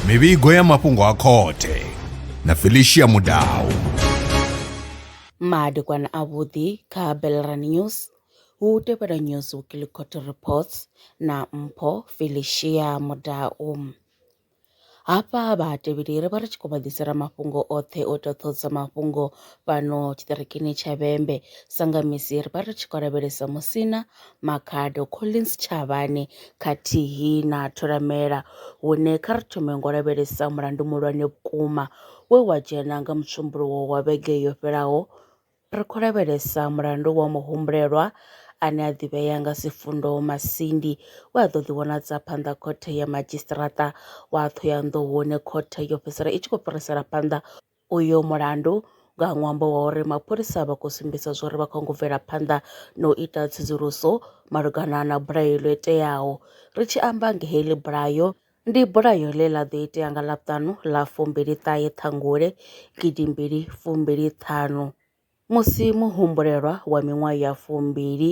mivhigo ya mafhungo a khothe na felicia mudau madekwana avhuḓi kha belran news hu tevhela news weekly court reports na mpho felicia mudau Hafha vhatevheli ri vha ri tshi khou vha ḓisela mafhungo oṱhe o ita ṱhoḓisa mafhungo fhano tshiṱirikini tsha Vhembe. Sanga misi ri vha ri tshi khou lavhelesa Musina, Makhado, Collins Tshavhane khathihi na Tholamela hune kha ri thome ngo lavhelesa mulandu muhulwane vhukuma we wa dzhena nga Mutshumbuluwo wa vhege yo fhelaho Ri khou lavhelesa mulandu wa muhumbulelwa ane a ḓivhea nga Sifundo Masindi we a ḓo ḓivhonadza phanḓa khothe ya madzhisiṱiraṱa wa Thohoyandou hune khothe yo fhedzisela i tshi khou fhirisela phanḓa uyo mulandu nga ṅwambo wa uri mapholisa vha khou sumbedza zwauri vha khou ngo bvela phanḓa na u ita tsedzuluso malugana na bulayo ḽo iteaho. Ri tshi amba nga heḽi bulayo Ndi bulayo ḽe ḽa ḓo itea nga Ḽavhuṱanu ḽa fumbili ṱahe Ṱhangule gidi mbili fumbili ṱhanu musi muhumbulelwa wa miṅwaha ya fumbili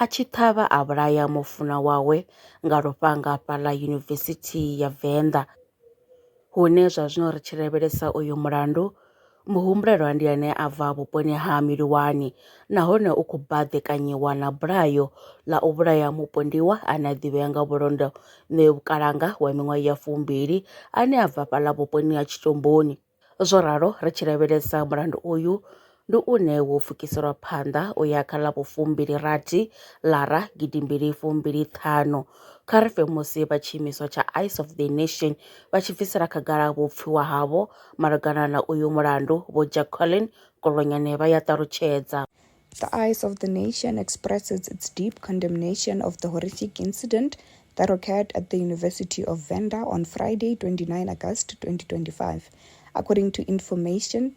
a tshi ṱhavha a vhulaya mufunwa wawe nga lufhanga fhaḽa Yunivesithi ya Venḓa. Hune zwa zwino ri tshi lavhelesa uyu mulandu, muhumbulelwa ndi ane a bva vhuponi ha Miliwani nahone u khou baḓekanyiwa na bulayo ḽa u vhulaya mupondiwa ane a ḓivhea nga vhulondo Ṋeo Vhukalanga wa miṅwaha ya fumbili ane a bva fhaḽa vhuponi ha Tshitomboni. Zwo ralo, ri tshi lavhelesa mulandu uyu, ndi une wo pfukiselwa phanḓa u ya kha ḽa vhufumbili-rathi, ḽara gidi mbili fumbili ṱhanu. Kha ri fe musi vha tshiimiswa tsha Eyes of the Nation vha tshi bvisela khagala vhupfiwa havho malugana na uyu mulandu, Vho Jacqueline Kolonyane vha ya ṱalutshedza. The Eyes of the Nation expresses its deep condemnation of the horrific incident that occurred at the University of Venda on Friday, 29 August 2025. According to information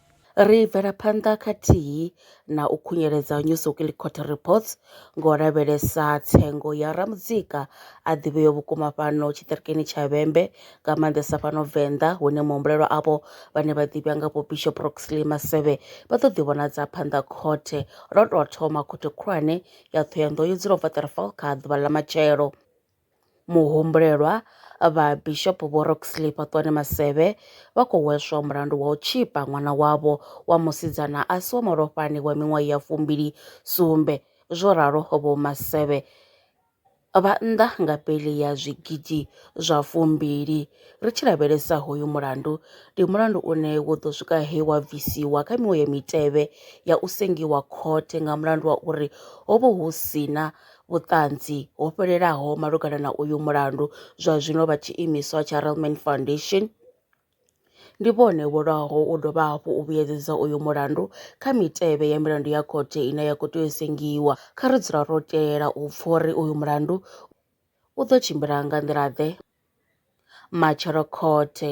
Ri bvela phanḓa khathihi na u khunyeledza New Sokili Court Reports ngo lavhelesa tsengo ya ramudzika a ḓivheaho vhukuma fhano tshiṱirikini tsha Vhembe nga maanḓesa fhano Venḓa hune muhumbulelwa avho vhane vha ḓivhea nga vho Bishop Roxley Masevhe vha ḓo ḓivhonadza phanḓa khothe lwo tou thoma khothe khulwane ya Ṱhohoyanḓou yo dzula u bva 34 kha ḓuvha ḽa matshelo. Muhumbulelwa, Vha Bishop Vho Roxley Fhaṱuwani Masevhe vha khou hweswa mulandu wa u tzhipa ṅwana wavho wa musidzana a si wa malofhani wa miṅwaha ya fumbili sumbe. Zwo ralo Vho Masevhe vha nnḓa nga beiḽi ya zwigidi zwa fumbili. Ri tshi lavhelesa hoyu mulandu, ndi mulandu une wo ḓo swika he wa bvisiwa kha miṅwe ya mitevhe ya u sengiwa khothe nga mulandu wa uri ho vha hu si na vhuṱanzi ho fhelelaho malugana na uyu mulandu zwa zwino vha tshi imiswa tsha Relman Foundation ndi vhone vho lwaho u dovha hafhu u vhuyedzedza uyu mulandu kha mitevhe ya milandu ya khothe ine ya khou tea u sengiwa kha ri dzula ro telela u pfa uri uyu mulandu u ḓo tshimbila nga nḓila ḓe matshelo khothe